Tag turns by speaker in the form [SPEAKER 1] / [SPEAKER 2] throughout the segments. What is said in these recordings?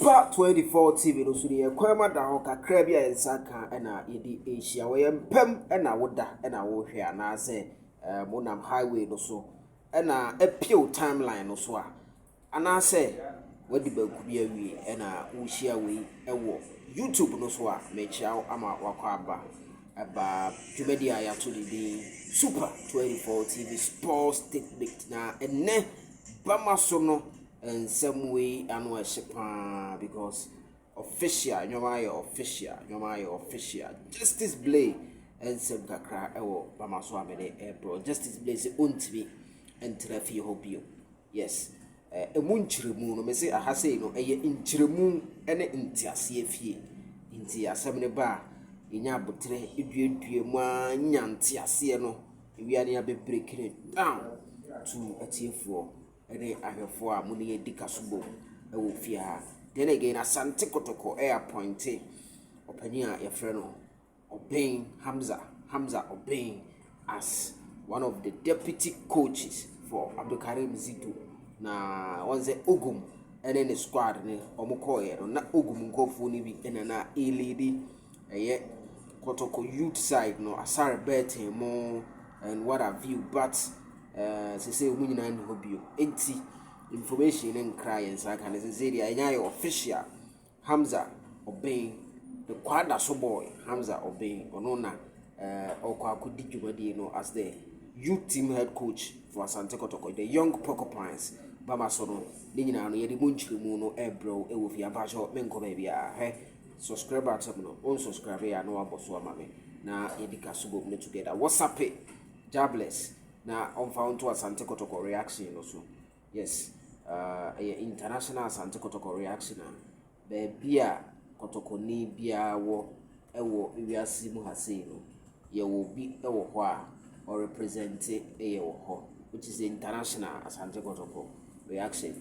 [SPEAKER 1] Fa 24 TV no so no yɛ kwan ma da hɔ kakra bi a yɛn nsa ka na yɛde rehyia wɔ yɛn mpam na woda na wohwɛ anaasɛ eh, monam highway no so na appew timeline no so a anaasɛ wadi banku bi awie ɛna wohyia wei ɛwɔ youtube no so a mekyia wo ama wakɔ aba ɛba dwumadi a yɛato ne din super 24 tv sports technique na ɛnɛ bama so no Nsɛm wei ano ɛhye paa because official nneɛma ayɛ official nneɛma ayɛ official justice blay nsɛm kakra ɛwɔ mama so a mede ɛbrɛ justice blay sɛ ɔntumi ntena fie hɔ bio yes ɛmu nkyerɛmu no mese aha sei no ɛyɛ nkyerɛmu ne nteaseɛ fie nti asɛm no ba a yɛnya aboterɛ eduadua mu a nya nteaseɛ no ewia ne abɛbreki no down to atiefoɔ ne ahwɛfoɔ a mo ne yɛn adi kaso bom wɔ fie ha. Then again, Asante Kotoko appointe ɔpanin a yɛfrɛ no Ɔben Hamza, Hamza Ɔben as one of the deputy coaches for Abdulkarim Zitu. Na wɔn sɛ Ogum ne ne squad ne wɔn kɔɔeɛ no, na Ogum nkurɔfoɔ no bi na na ɛlidi ɛyɛ Kotoko youth side no, Asare Burton mo and what have you, but Eh, sese wɔn nyinaa nni hɔ bio. Enti, information no nkra yɛn saa ka no sese deɛ ɛnyɛ ayɛ official. Hamza Ɔbɛn, the Kwadaso boy, Hamza Ɔbɛn, ɔno na eh, ɔkɔ akɔdi dwumadie no as the youth team head coach for Asante Kɔtɔkɔ, the young porcupines, bama so no, ne nyinaa no yɛde mu nkyerɛmu no ɛbrɛw ɛwɔ fie ampakyɛw menkɔ baabi a hwɛ subscribe akyɛm no onsubscribe yɛ a na wabɔ so ama me na yɛdi ka so bom no together wɔsape Jobless na ɔmfa wo nto Asante Kɔtɔkɔ reaction no so. Yes, uh, ɛyɛ international Asante Kɔtɔkɔ reaction a baabi a kɔtɔkɔni biara wɔ ɛwɔ wiase mu ha sei no, yɛwɔ bi ɛwɔ hɔ a ɔrepresente ɛyɛ wɔ hɔ, which is international Asante Kɔtɔkɔ reaction.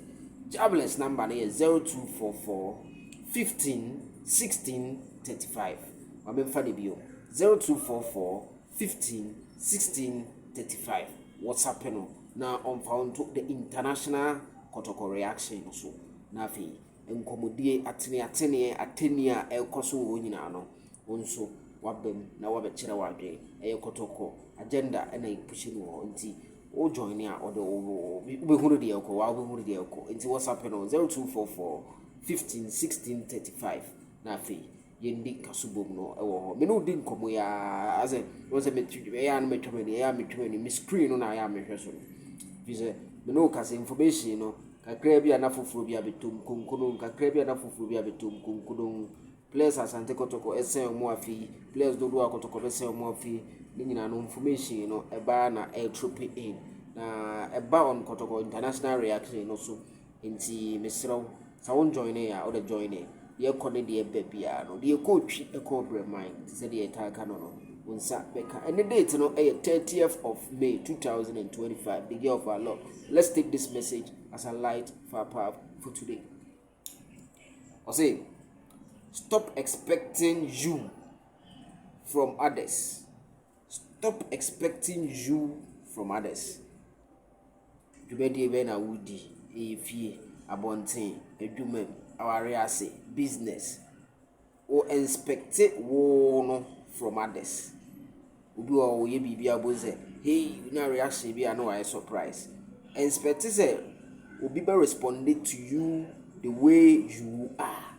[SPEAKER 1] Jobless number no yɛ 0244 15 16 35. Wamemfa ne bio 0244 15 16 35 wɔsapɛ no na ɔmfa wo nto the international kɔtɔkɔ reaction no so na afei nkɔmmɔdie ateneateneɛ atɛnnie a ɛrekɔ so wɔ hɔ nyinaa no wo nso waba mu na wabɛkyerɛ w'adwene ɛyɛ kɔtɔkɔ agenda na ɛpuhyɛ no wɔ hɔ nti wo join ne a ɔde wobɛhunu deɛ ɛkɔ wa wobɛhunu deɛ ɛkɔ nti wɔsapɛ no 0244 15 16 35 na afei yɛndi nkaso bom no wɔ hɔ. Me ne wo di nkɔmmɔ yi ara, asɛ, wobɛhu sɛ metwi, ɛyɛ a na matwa m'ani, ɛyɛ a metwa m'ani, me screen no na ayɛ a mehwɛ so no. Ɛfiri sɛ, me ne wo kasa information no, kakraa bi a na foforɔ bi abɛtom konkono, kakraa bi a na foforɔ bi abɛtom konkono. Players Asante Kɔtɔkɔ ɛsɛn wɔn afei, players dodoɔ a Kɔtɔkɔ bɛsɛn wɔn afei, ne nyinaa no information no ɛbaa na ɛretrope in. Na ɛba on Kɔtɔkɔ international reaction no so. Nti mesrɛ wo sɛ wo joinee a wode joine deɛ kɔ ne deɛ ba biara no deɛ kɔ twi kɔ ɔbrɛman te sɛ deɛ yɛtaa ka no no wo nsa bɛka ɛne date no ɛyɛ 30th of May 2025 the year of our Lord let's take this message as a light for our path for today ɔse stop expecting you from others stop expecting you from others Dwumadie bɛn na wodi? Ɛyɛ fie, abɔnten, adwuma mu, awareɛ ase, business. Wo inspecte wo no from others. Obi wɔ hɔ ɔyɛ biribi a wobɛhu sɛ hei na reaction bi a na wayɛ surprise. Inspecte sɛ obi bɛ respond to you the way you are.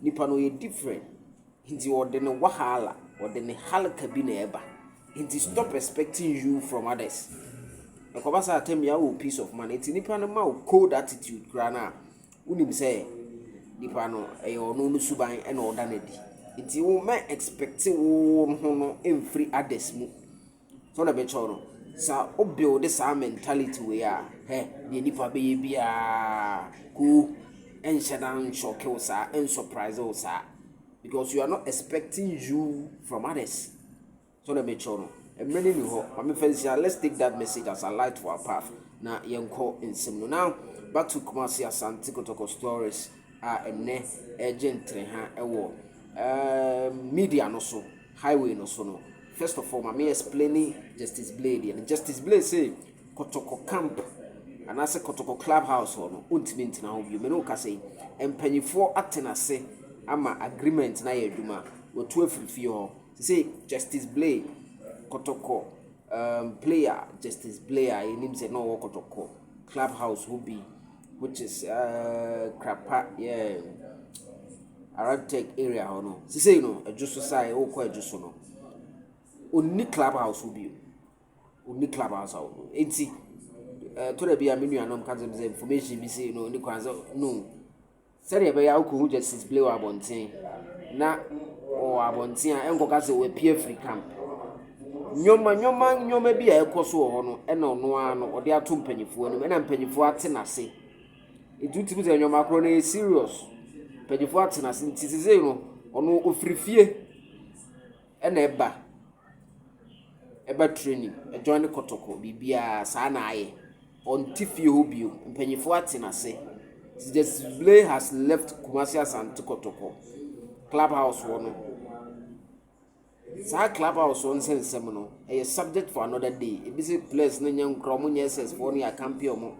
[SPEAKER 1] Nipa no ɔyɛ different nti ɔde ne wahaala ɔde ne halka bi na ɛba nti stop expecting you from others ɛkɔba saa tɛm yɛ awɔ peace of mind nti nipa no ma wo cold attitude koraa no a wonim sɛ nipa no ɛyɛ ɔno no suban ɛna ɔda no adi nti wo mɛ expect wo ho no mfiri others mu. Sɛ ɔna bɛkyɛw no sɛ wo build saa mentality wei a hɛ deɛ nipa bɛyɛ biara ko ɛnhyɛ da nshɔke wo saa ɛnsurprise wo saa because you are not expecting you from others so na mekyɛw no mmerɛ no ni hɔ maame fɛnsia let's take that message as a light to our path na yɛnkɔ nsɛm no now back to Kumasi Asante Kotoko stories a ɛnɛ ɛgye ntere ha ɛwɔ ɛɛ media no so highway no so no first of all ma me explaini Justice Blay deɛ no, Justice Blay se Kɔtɔkɔ camp anaasɛ Kɔtɔkɔ club house hɔ no ɔntumi ntena hɔ bio, me ne wo kasa yi mpanyifoɔ atena ase ama agreement no ayɛ adwuma, watu afiri fie hɔ sese Justice Blay Kɔtɔkɔ um, player Justice Blay a yɛnim sɛ na ɔwɔ Kɔtɔkɔ club house hɔ bi Which is ɛɛɛ Krapa yeah around tech area hɔ no. Sisei no Adwo so side wokɔ Adwo so no onni club house hɔ bio. Onni club house hɔ bio. Enti ɛtɔ da bi a me nuanom ka kyerɛ me sɛ information bi sei no nni kwan sɛ no. sɛdeɛ ɛbɛyɛ a wokɔhu Justice Blay wɔ abɔnten na ɔwɔ abɔnten a ɛnkɔka sɛ wapie afiri camp nneɛma nneɛma nneɛma bi a ɛkɔ so wɔ hɔ no ɛna ɔno ara no ɔde ato mpanimfoɔ anim ɛna mpanimfoɔ ate n'ase nti wotumi sɛ nneɛma korɔ no yɛ serious mpanimfoɔ ate n'ase nti sese no ɔno ofiri fie. Ɛna ɛba ɛba training ɛjoin ne kɔtɔkɔ biribiaa saa na ayɛ ɔnte fie hɔ biom mpanyinfoɔ ate nase nti the sble has left Kumasi Asante kɔtɔkɔ club house hɔ no saa club house hɔ nsɛ nsɛm no ɛyɛ subject for another day ebi sɛ players no nyɛ nkora ɔmo nyɛ SS foɔ no yɛ akampi ɔmo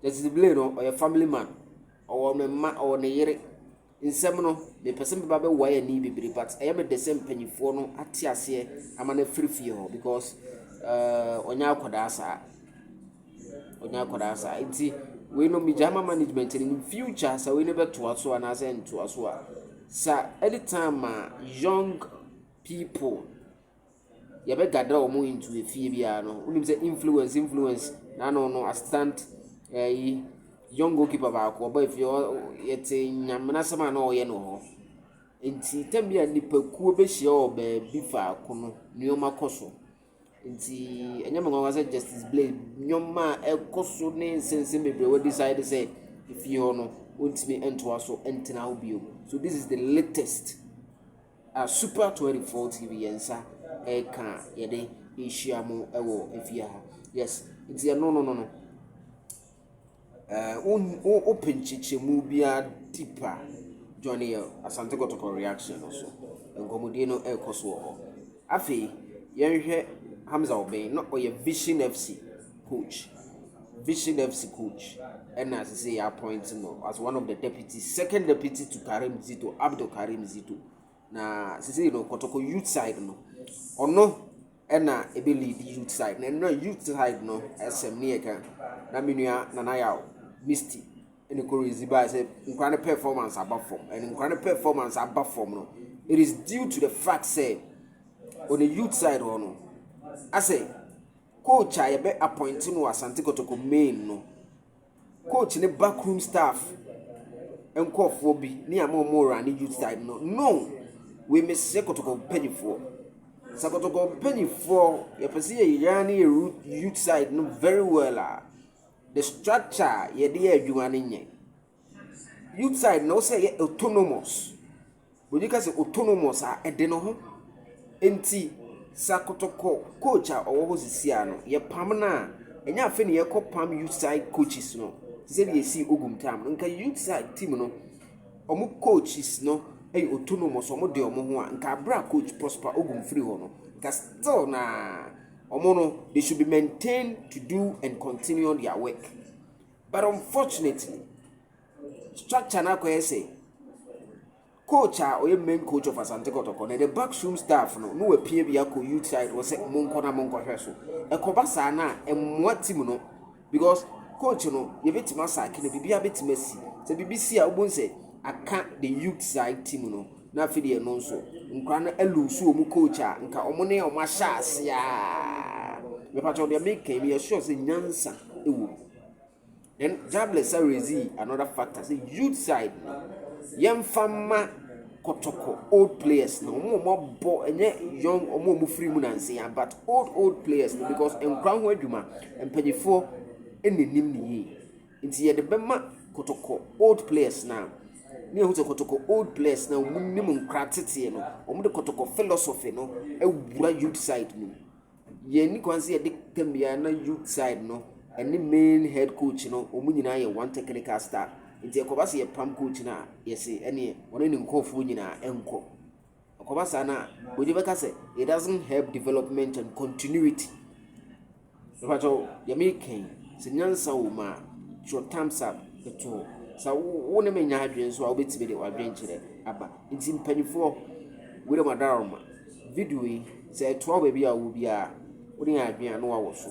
[SPEAKER 1] the sble no ɔyɛ family man ɔwɔ ne mma ɔwɔ ne yere. Nsɛm no, mepɛ sɛ meba bɛ wae ani bebree but ɛyɛ me dɛ sɛ mpanyinfoɔ no ate aseɛ ama no afiri fie hɔ because uh, ɔnyɛ akwadaa saa ɔnyɛ akwadaa saa nti wei no megyae ma management no in future sɛ wei no bɛtoa so anaasɛ ntoa so a sa anytime a young people yɛbɛgada ɔmo into a fie biara no wonim sɛ influence influence na ano no assistant ɛyi eh, young goalkeeper baako ɔba fie yɛte nyame n'asɛm a na ɔyɛ no hɔ nti tam bi a nipakuo bɛhyia wɔ baabi faako no nneɛma kɔ so nti ɛnyɛ mɛ nwanwa sɛ justice blade nneɛma a ɛkɔ so ne nsɛnsɛm bebree wɔ decide sɛ efie hɔ no ɔntumi ntoa so ntena hɔ bio so this is the latest. A Super 24 TV yɛn nsa ɛka a yɛde rehyia mo wɔ efie ha yes nti ɛno no no no ɛɛ wo open nkyekyɛmu biara deep a join yɛ asante kɔtɔkɔ reaction no so nkɔmɔdie no ɛrekɔ so wɔ hɔ afei yɛnhwɛ hamza ɔbɛn na ɔyɛ vision fc coach. Vision FC coach ɛna sese yɛ appoint no as one of the deputy second deputy to Karim Zito Abdul Karim Zito na sese no Kotoko youth side no ɔno ɛna ebe lead youth side na ɛna youth side no ɛsɛm ne yɛ kan na menua Nana Yaw Misty ɛna kɔ rezi ba sɛ nkura ne performance aba fam ɛna nkura ne performance aba fam no it is due to the fact sɛ on the youth side hɔ no asɛ. Coach a yɛbɛ appointe no wɔ Asante Kotoko main no, coach ne backroom staff nkorɔfoɔ bi ne ama ɔmo rane youth side no, no! Wei mesrɛ Kotoko mpanimfoɔ, sɛ Kotoko mpanimfoɔ yɛpɛ sɛ yɛ rane yɛ youth side no very well a, the structure a yɛde yɛ adwuma no nyɛ. Youth side na wosɛ yɛ autonomous. Bronyi ka sɛ autonomous a ɛde ne ho. Nti sɛ akotɔkɔ coach a ɔwɔ hɔ sisi a no yɛpam no a ɛnyɛ afei na yɛkɔpam youth side coaches no te sɛ deɛ ɛsii Ogum tam no. Nka youth side team no wɔn coaches no yɛ autonomous wɔn de wɔn ho a nka abere a coach Prosper Ogum firi hɔ no nka still na wɔn no they should be maintained to do and continue their work. But unfortunately, structure no akɔyɛ sɛ coach a ɔyɛ main coach of Asante Kɔtɔkɔ na the backroom staff no na wɔapia bi akɔ youth side wɔ sɛ monkɔ na monkɔhwɛ so. Ɛkɔba saa no a, ɛmmoa team no because coach no yɛbɛtumi asaake no, biribiara bɛtumi asi. Sɛ biribi si a, wobɛhu sɛ aka the youth side team no na afei deɛ ɛno nso nkora no alusu wɔn coach a nka wɔn ne wɔn ahyɛ ase a. Mepatwa wɔn deɛ meka yi, meyɛ sure sɛ nyansa wɔ mu. Then tablets a woedzi another factor sɛ youth side no, yɛmfa mma kɔtɔkɔ old players no, hɔn a wɔabɔ nnyɛ young hɔn a wofir mu nandzea but old old players no because nkra ho edwuma, mpanyimfoɔ na nyim no yie. Ntsi yɛdze bɛma kɔtɔkɔ old players no a, na yehu dɛ kɔtɔkɔ old players no a wɔnyim nkra tsetsee no, wɔdze kɔtɔkɔ philosophy no ewura youth side no mu. Yɛnni kwan sɛ yɛde tam biara na youth side no ne main head coach no wɔn nyinaa yɛ one technical staff nti ɛkɔba sɛ yɛpam coach no a yɛse ɛneɛ ɔne ne nkurɔfoɔ nyinaa ɛnkɔ ɛkɔba saa no a wɔde bɛka sɛ it doesn't help development and continuity ɛfakyɛw yɛme kɛn sɛ nyansa wɔ mu a twerɛ thumbs up ɛto hɔ sɛ wo ne menya adwene nso a wobɛtumi de wadwene kyerɛ aba nti mpanimfoɔ wei dɛ madaroma Video yi sɛ ɛtoa wo baabi a wowɔ biara wode yɛ adwene a na wawɔ so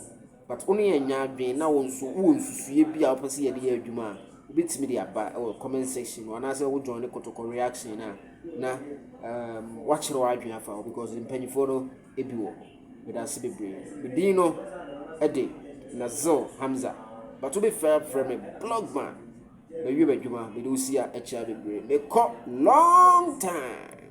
[SPEAKER 1] but wo ne yɛn nyɛ adwene na wo nso wowɔ nsusuiɛ bi a wopɛ sɛ yɛde yɛ adwuma a wobɛtumi de aba wɔ comment section no anaasɛ wo join ne kotokɔ reaction no a na um, woakyerɛ w'adwene afa hɔ because mpanimfoɔ no ebi wɔ hɔ meda ase bebree medin no ɛde Nazil Hamza but wobɛfrɛ frɛ me blogman mawie m'adwuma mede wosia akyia bebree mekɔ long time